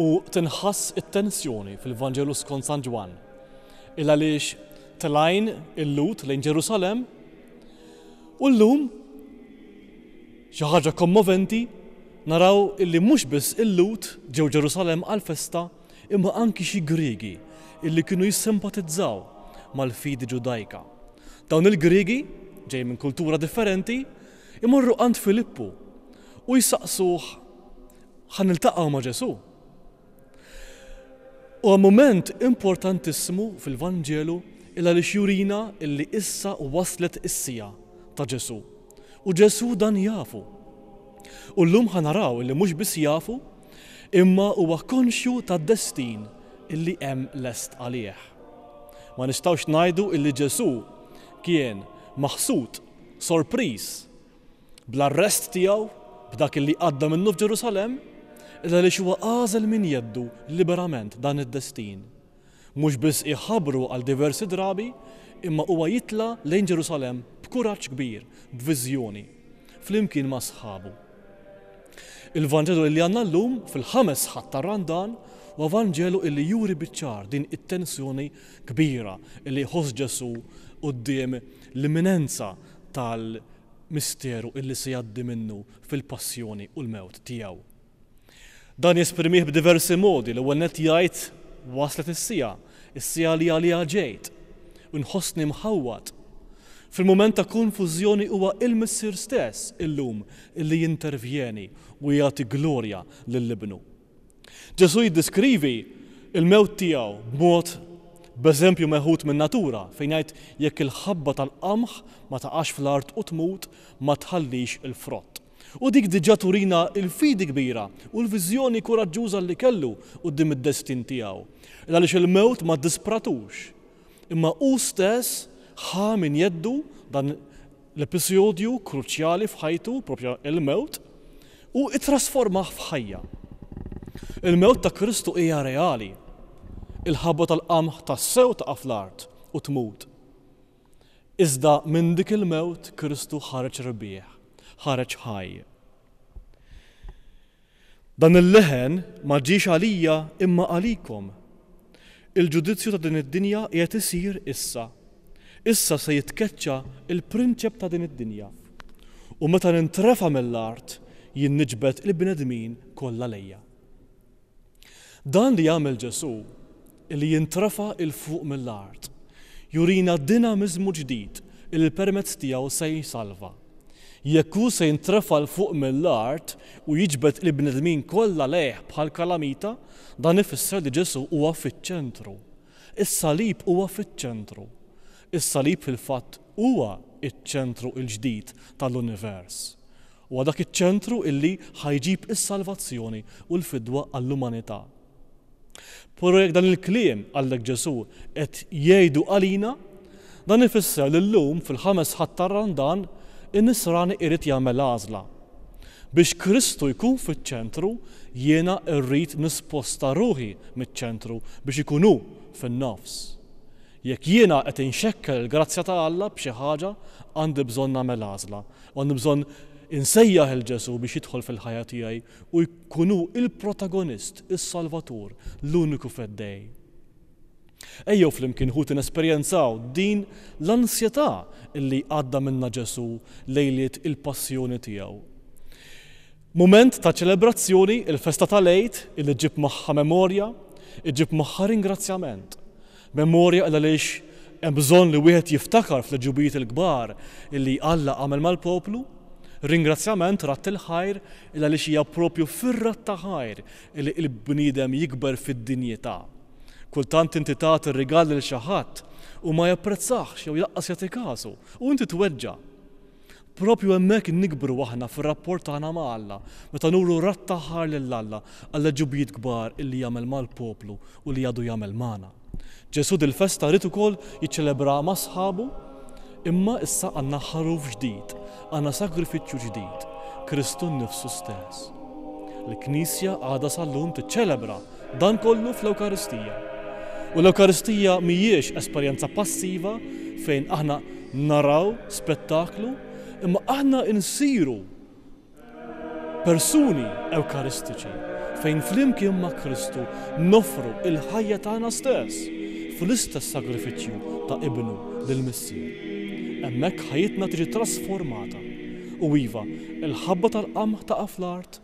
u tinħass it-tensjoni fil-Vanġelu skont San Ġwann, il-għaliex tlajn il-Lhud lejn Ġerusalemm u llum, xi ħaġa kommoventi, naraw illi mhux biss il-Lhud ġew Ġerusalemm għall-festa imma anki xi Griegi illi kienu jissimpatizzaw mal-fidi Ġudajka. Dawn il-Griegi, ġejjin minn kultura differenti, imorru għand Filippu u jsaqsuh Ħa niltaqgħu ma' Ġesù. Huwa mument importantissimu fil-Vanġelu il għaliex jurina illi issa waslet is-siegħa ta' Ġesù. U Ġesù dan jafu. U llum ħa naraw illi mhux biss jafu, imma huwa konxju tad-destin illi hemm lest għalih. Ma nistgħux ngħidu illi Ġesù kien maħsud, sorpriż, bl-arrest tiegħu, b'dak li għadda minnu f'Ġerusalemm, iżda għaliex huwa għażel minn jeddu liberament dan id-destin. Mhux biss iħabbru għal diversi drabi, imma huwa jitla' lejn Ġerusalemm b'kuraġġ kbir, b'viżjoni, flimkien ma' sħabu. Il-Vanġelu li għandna llum, fil-ħames Ħadd tar-Randan, huwa Vanġelu li juri biċ-ċar din it-tensjoni kbira li jħoss Ġesù quddiem l-imminenza tal-misteru illi se jgħaddi minnu fil-passjoni u l-mewt tiegħu. Dan jesprimih b'diversi modi, l-ewwel nett jgħid waslet is-siegħa, is-siegħa li għaliha ġejt, u nħossni mħawwad. Fil-mument ta' konfużjoni huwa il-Missier stess illum illi jintervjeni u jagħti glorja lil Ibnu. Ġesù jiddeskrivi l-mewt tiegħu b'mod b'eżempju meħud min-natura fejn jgħid jekk il-ħabba tal-qamħ ma taqax fl-art u tmut ma tħallix il-frott. U dik diġà turina l-fidi kbira u l-viżjoni kuraġġuża li kellu quddiem id-destin tiegħu. Għaliex il-mewt ma ddispratux. Imma hu stess ħa minn jeddu dan l-episodju kruċjali f'ħajtu, propju il-mewt, u ittrasformah f'ħajja. Il-mewt ta' Kristu hija reali. Il-ħabba tal-qamħ tassew taqa' fl-art u tmut. Iżda minn dik il-mewt Kristu ħareġ rebbieħ, ħareġ ħaj. Dan il-leħen ma ġiex għalija imma għalikom. Il-ġudizzju ta' din id-dinja qiegħed isir issa. Issa se jitkeċċa l-prinċep ta' din id-dinja. U meta nintrefa' mill-art, jien niġbed il-bnedmin kollha lejja. Dan li għamel Ġesù li jintrefa' 'l fuq mill-art, jurina dinamiżmu ġdid li permezz tiegħu se jsalva. Jekk hu se jintrefa' 'l fuq mill-art u jiġbed il-bnedmin kollha lejh bħal kalamita, dan ifisser li Ġesù huwa fiċ-ċentru. Is-salib huwa fiċ-ċentru. Is-salib fil-fatt huwa ċ-ċentru l-ġdid tal-univers. Huwa dak iċ-ċentru li ħa jġib is-salvazzjoni u l-fidwa għall-umanità. Però jekk dan il-kliem, qalek Ġesù, qed jgħidu għalina, dan ifisser li llum fil-Ħames Ħadd tar-Randan in-nisrani irid jagħmel għażla. Biex Kristu jkun fiċ-ċentru jiena rrid nisposta ruħi miċ-ċentru biex ikun hu fin-nofs. Jekk jiena qed inxekkel il-grazzja ta' Alla b'xi ħaġa għandi bżonn nagħmel għażla u għandi bżonn insejjaħ 'il Ġesù biex jidħol fil-ħajja tiegħi u jkun hu l-protagonist, is-Salvatur, l-uniku Feddej. Ejjew flimkien, ħuti, nesperjenzaw din l-ansjetà li għadda minnha Ġesù lejliet il-Passjoni tiegħu. Mument ta' ċelebrazzjoni, il-festa tal-Għid, li ġġib magħha memorja, iġġib magħha ringrazzjament. Memorja il għaliex hemm bżonn li wieħed jiftakar fl-għeġubijiet il-kbar li Alla għamel mal-poplu. Ringrazzjament, radd il-ħajr, il għaliex hija proprju fir-radd ta' ħajr li l-bniedem jikber fid-dinjità. Kultant inti tagħti rigal lil xi ħadd u ma japprezzahx jew lanqas jagħti kasu, u inti tweġġa'. Proprju hemmhekk nikbru aħna fir-rapport tagħna ma' Alla, meta nuru radd ta' ħar lil Alla għall-għeġubijiet kbar illi jagħmel mal-poplu u li għadu jagħmel magħna. Ġesù dil-festa ried ukoll jiċċelebraha ma' sħabu, imma issa għandna Ħaruf ġdid, għandna sagrifiċċju ġdid, Kristu nnifsu stess. Il-Knisja għadha sal-lum tiċċelebra Dan kollu fl-Ewkaristija. U l-Ewkaristija mhijiex esperjenza passiva fejn aħna naraw spettaklu, imma aħna nsiru persuni Ewkaristiċi fejn flimkien ma' Kristu noffru l-ħajja tagħna stess fl-istess sagrifiċċju ta' Ibnu lill-Missier. Hemmhekk ħajjitna tiġi trasformata. U iva, il-ħabba tal-qamħ taqa' fl-art,